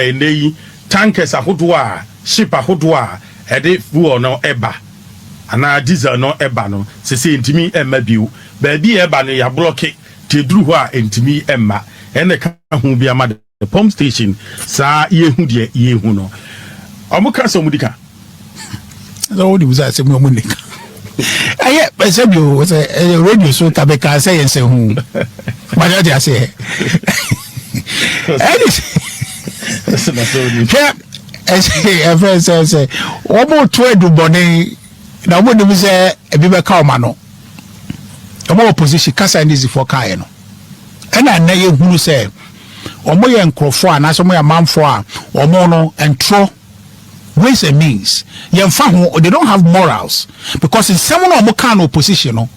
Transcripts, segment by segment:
Ɛnnɛ yi, tankers ahodoɔ a ship ahodoɔ a ɛde fuel no ba anaa diesel no ba no, sesei ɛntumi mma bio. Baabi a ɛba no, yɛablɔke te ɛduru hɔ a ɛntumi mma. Ɛnna ɛka ho bi ama the pump station saa yɛhu deɛ yɛhu no. Wɔka sɛ wɔdi ka. sɛ wode bisa asɛm no mu ne ka ɛyɛ ɛsɛ bi o sɛ ɛyɛ radio so ka bɛka sɛ yɛ nsɛ ho mane ɔde aseɛ ɛne hwɛ ɛfɛ sɛ sɛ wɔmoto adubɔne na wɔmonim sɛ ebi bɛka ɔma no ɔma opposition kasa ne zifoɔ kaeɛ no ɛna nnɛ yɛhunu sɛ wɔyɛ nkurɔfoɔ anaasɛ wɔyɛ amanfoɔ a wɔn no ntorɔ ways and means yɛnfa ho they don't have morals because nsɛm no ɔmo kaa no opposition no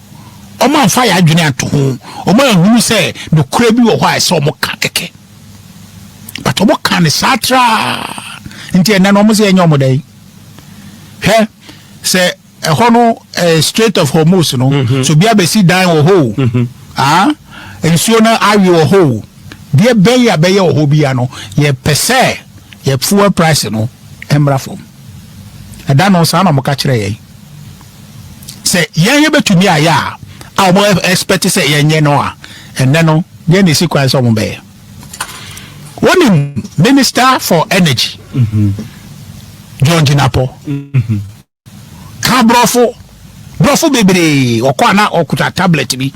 ɔmo anfa yɛ adwene anto ho ɔmo anhunu sɛ nokorɛ bi wɔ hɔ a ɛsɛ ɔmo ka kɛkɛ but ɔmo ka ne saa traa nti ɛnɛ no ɔmo sɛ yɛnyɛ ɔmo dɛn hwɛ sɛ Ɛhɔ no ɛɛ Strait of Hormuz no, mm-hmm. so bia bɛsi dan wɔ hɔ o, mm-hmm. ah, nsuo no awe wɔ hɔ o, deɛ bɛyɛ a bɛyɛ wɔ hɔ bia no, yɛpɛ sɛ yɛ fuel price no mmra fam. Ɛda no saa na wɔka kyerɛ yɛn sɛ yɛn yɛbɛtumi ayɛ a a wɔn expect sɛ yɛnyɛ no a ɛnɛ no yɛn na esi kwan sɛ wɔn bɛyɛ wɔnim minister for energy mm-hmm. john jinapɔ mm-hmm. Ka brɔfo, brɔfo bebree wɔ kɔ a na ɔkuta tablet bi.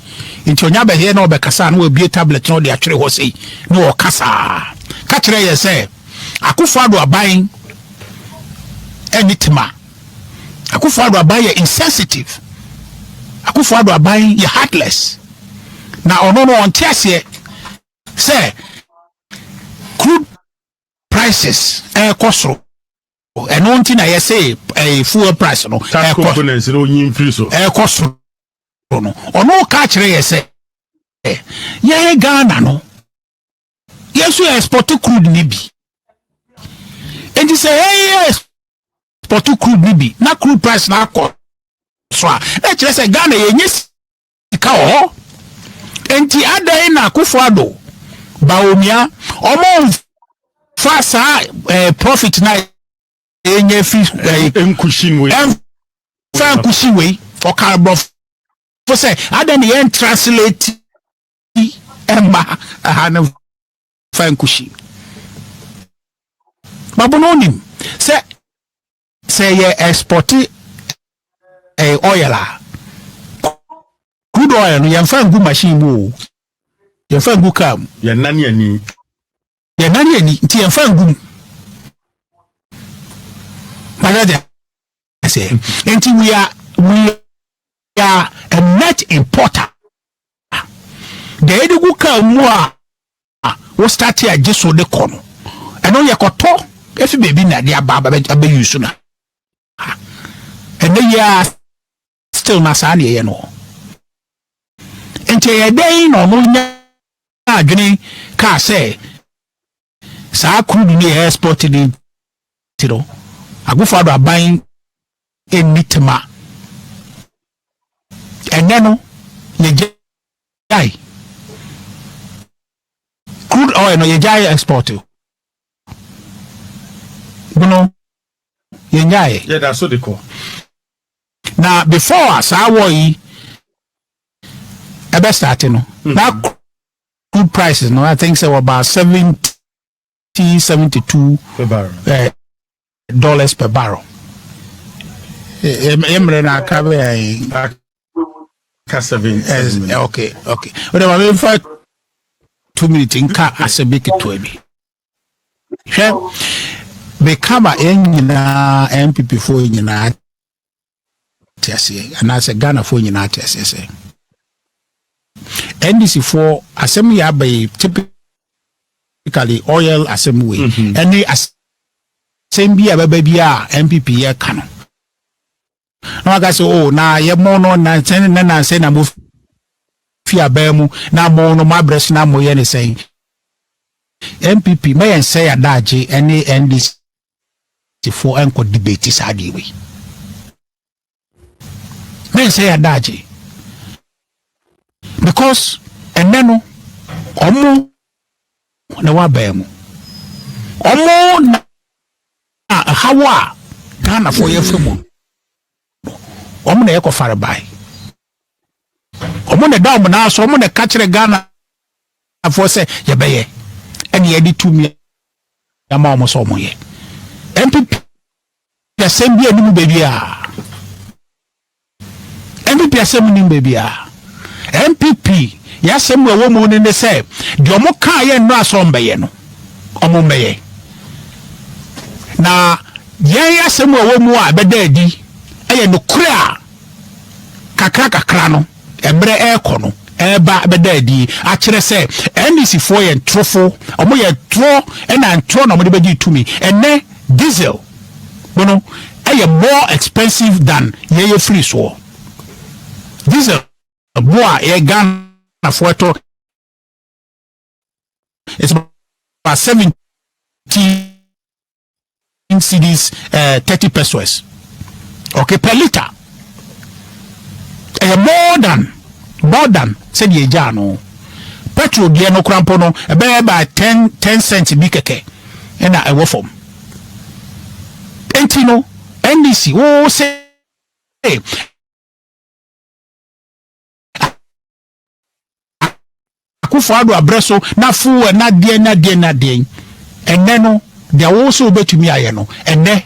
Nti ɔnya bɛhɛɛ na ɔbɛkasa a na wabue tablet na ɔde atwere hɔ sei na ɔka saa. Ka kyerɛ yɛn sɛ Akufo Addo aban ɛne tema. Akufo Addo aban yɛ insensitive. Akufo Addo aban yɛ heartless. Na ɔno no ɔnte aseɛ sɛ crude prices ɛrekɔ soro. ɛno nti na yɛse ɛɛ eh, fuel price no ɛkɔ components no onyi mfiri so ɛkɔ soro no ɔno ka kyerɛ yɛ sɛ eh, yɛn Ghana no yɛn nso yɛ export crude ne bi nti sɛ yɛyɛ export crude ne bi na crude price no akɔ so a na kyerɛ sɛ Ghana yɛnyɛ ka wɔ hɔ. Enti adɛn na Akufo-Addo, Bawumia, wɔmfa saa eh, profit na yɛnya fi eh, nkusin wei ɛmfa nkusin wei ɔka aborɔfo sɛ adɛn na yɛn translate ɛmma ɛha no fa nkusin babono onim sɛ Sɛ yɛ ɛspɔte ɛyɛ oil a, crude oil no yɛmfa ngu machine mu o, yɛmfa ngu kaa mu. Yɛnnane ani. Yɛnnane ani nti yɛmfa ngu mu. Bɛdɛ sɛ nti we are we are a net importer. Deɛ yɛde gu kaa mu a a wo start a gye so de kɔ no ɛno yɛ kɔtɔ efi baabi na de aba abɛ yi so na ɛnɛ yi a still na saa na ɛyɛ no nti ɛyɛ dɛn na ɔno nya adwene kaa sɛ saa kuru no yɛ export ne ti no agofo ado aban ɛnni tema ɛnɛ no yɛgya Yɛgyae crude oil no yɛgyae export o bono yɛnyae yɛda so de kɔ na before a saa war yi ɛbɛ start no na crude prices no i think sɛ wɔbaa seventy 72 per barrel. Eh, dollars per barrel yɛ mmerɛ no aka bɛyɛ ka seven seven eh, okay okay o de ma mi nfa two minutes nka asɛ bi ketewa bi hwɛ meka ma yɛn nyinaa npp foɔ nyinaa te aseɛ anaasɛ ghanafoɔ nyinaa te aseɛ sɛ ndc foɔ asɛm yɛ aba yi typically oil asɛm wei mhm. ɛne asɛm bi a bɛba bi a npp yɛ ka no na waka sɛ o oh, na yɛmɔ no nansɛn ne nansɛn na mo fi abɛn mu na mo no mo abrɛ so na mo yɛ ne sɛn npp mɛyɛ nsɛ yɛ adaagye ɛne ndc Apolisifoɔ nkɔ debate saa adeɛ wei. Mɛnsɛ yɛ adagye. Because ɛnɛ no ɔmo na wabɛn mu. Ɔmo na ɛhaw a Ghanafoɔ yɛfa mu no ɔmo na yɛkɔ fare bae. Wɔn na ɛda wɔn nan so, wɔn na ɛka kyerɛ Ghanafoɔ sɛ yɛbɛyɛ ɛna yɛde tumi ama wɔn sɛ wɔyɛ. NPP asɛm bi anim baabi a. NPP asɛm anim baabi a. NPP yɛasɛm wɔ wɔn mu no ne sɛ deɛ wɔn kaa yɛ nnora sɛ wɔn bɛyɛ no, wɔn bɛyɛ. Na yɛn asɛm wɔ wɔn mu a ɛbɛda adi ɛyɛ nokorɛ a. Kakrakakra no, mmerɛ rekɔ no, ɛreba bɛda adie akyerɛ sɛ NDC foɔ yɛ ntorofo, wɔn yɛ ntorɔ ɛna ntorɔ na wɔn de bɛgye tumi. Ɛnɛ diesel no no ɛyɛ more expensive than yɛn yɛ firi soɔ. Diesel bo a yɛ Ghana foɔ ɛtɔ is about seventy. Ten cedis eh, thirty pesos. Okay, per liter. Ɛyɛ more than, more than sɛdeɛ ɛgyaa no. Petrol deɛ no kora mpo no, ɛbɛyɛ by ten, ten cent bi kɛkɛ ɛna ɛwɔ fam. Enti no, NDC, wo se akufo ado abrɛ so na fow ɛna deɛn na deɛn na deɛn ɛnɛ no deɛ wo so wobɛtumi ayɛ no ɛnɛ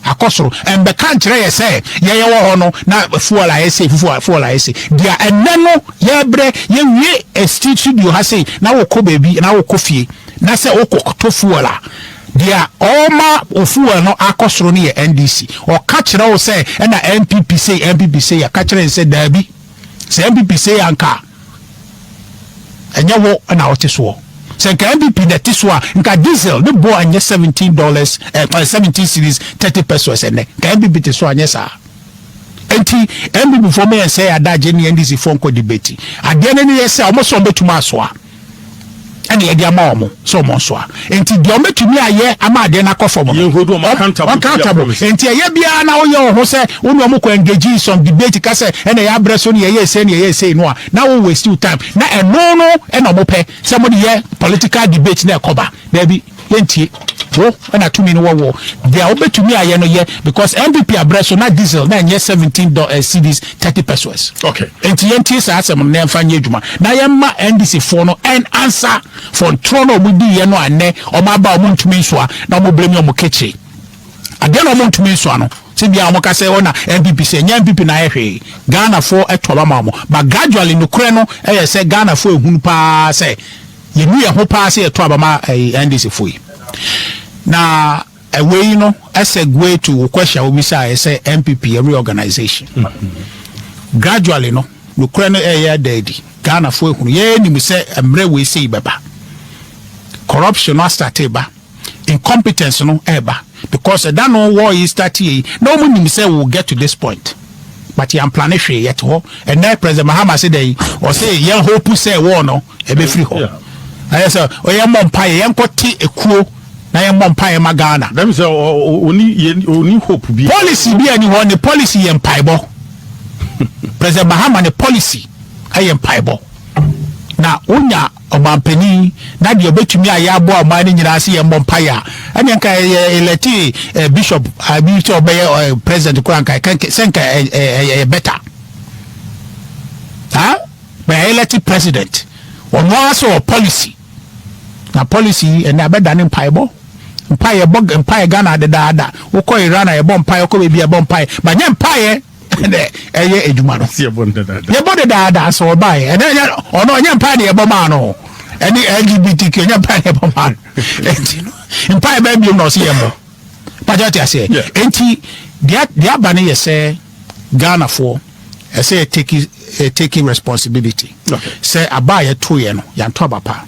akɔ soro ɛnbɛka nkyerɛ yɛ sɛ yɛyɛ wɔ hɔ no na fuel ayɛ se fufuo fuel ayɛ se deɛ ɛnɛ no yɛbrɛ yɛwie ɛsti studio ha se na wokɔ baabi na wokɔ fie na sɛ wokɔ to fuel a deɛ ɔma ofuel no akɔ soro no yɛ ndc ɔka kyerɛ wo sɛ ɛna npp sei npp sei yɛka kyerɛ sɛ daabi Sɛ NPP sei a nka ɛnyɛ wo na wote soɔ. Sɛ nka NPP na ɛte so a nka diesel ne boɔ ɛnyɛ seventeen dollars eh, eh, seventeen series thirty pesos ɛnɛ. Nka NPP te so anyɛ saa. Enti NPP foɔ mo yɛn sɛ yɛ adagye ne NDC foɔ nkɔ debate. Adeɛ no ne yɛ sɛ wɔn sɛ wɔn bɛtumi asoa. ɛna yɛde ama wɔn sɛ wɔn nsoa nti deɛ wɔn bɛtumi ayɛ ama adeɛ no akɔ fam no wɔn accountable nti ɛyɛ biara na woyɛ wɔn ho sɛ wo ne wɔn kɔ engage in some debate ka sɛ ɛna yɛ abrɛ so ne yɛyɛ ɛsɛ ne yɛyɛ ɛsɛ no a na wo waste your time na ɛno no ɛna wɔn pɛ sɛ wɔn de yɛ political debate na ɛkɔba daabi yɛntie wo na tumi no wɔ wɔ deɛ wobɛtumi ayɛ no yɛ because npp abrɛ so na diesel na ɛnyɛ 17 dɔ eh, cds 30 pesos okay enti yɛntie saa asɛm no na yɛmfa nyɛ adwuma na yɛmma ndc foɔ no ɛn ansa fɔ ntorɔ no ɔmo diiɛ no anɛ ɔmo aba ɔmo ntumi nsoa na ɔmo brɛ mi ɔmo kekye adeɛ na ɔmo ntumi nsoa no sɛ bia ɔmo ka sɛ ɔna oh, npp sɛ ɛnyɛ npp na ayɛ hwee ghanafoɔ ɛtɔ ba ma ɔmo but gradually nokorɛ no ɛyɛ sɛ ghanafoɔ ehunu paa sɛ Yɛnu yɛn ho paa sɛ yɛto aba ma NDC fo yi. Na wei no segue to wo question a wobisaeɛ sɛ NPP reorganization. Gradually no, nokorɛ no ɛyɛ ada adi. Ghanafoɔ ahunu. Yɛnim sɛ mmerɛ wei sei bɛba. Corruption no astate ba. incompetence no ɛɛba because ɛda no war yi start yɛ yi na wɔn nim sɛ will get to this point but yɛn plane hwee yɛte hɔ ɛnɛ president mahama se dɛ yi ɔse yɛn hope sɛ war no ɛbɛfiri hɔ ɛyɛ sɛ ɔyɛ mmɔ mpa yɛ yɛn kɔ te ekuo na yɛn mmɔ mpa yɛ ma ghana. dɛm sɛ ɔni yɛ ɔni hope bi. policy bi ɛni hɔ ne policy yɛ mpaebɔ president mahama ne policy ɛyɛ mpaebɔ na wonya Ɔmanpanin, na deɛ ɔbɛtumi ayɛ aboa ɔman no nyinaa sɛ yɛmmɔ mpaeɛ a, ɛnneɛ nka yɛ elɛte eh, bishop ah, bi sɛ ɔbɛyɛ eh, president koraa nka ɛka- sɛ nka eh, eh, eh, ɛyɛ better ha bɛyɛ elɛte president ɔno ara sɛ ɔ policy na policy yi ɛnna abɛda ne mpaebɔ mpaeɛ bɔ mpaeɛ ghana dedaada wokɔ iran a yɛbɔ mpaeɛ wokɔ baabi a yɛbɔ mpaeɛ banyɛ mpaeɛ ɛnɛ ɛyɛ adwuma no yɛbɔ dedaada sɛ ɔbaeɛ ɛnɛ ɛnyɛ ɔno ɔnyɛ mpae ne yɛbɔ maa no ɛne lgbtq ɛnyɛ mpae ne yɛbɔ maa no ɛnti no mpae bɛn biom na ɔsɛ yɛbɔ pagya te aseɛ ɛnti deɛ aba no yɛ sɛ ghanafoɔ ɛsɛ yɛ take eh, taking responsibility sɛ aba a yɛtoeɛ no yɛanto aba pa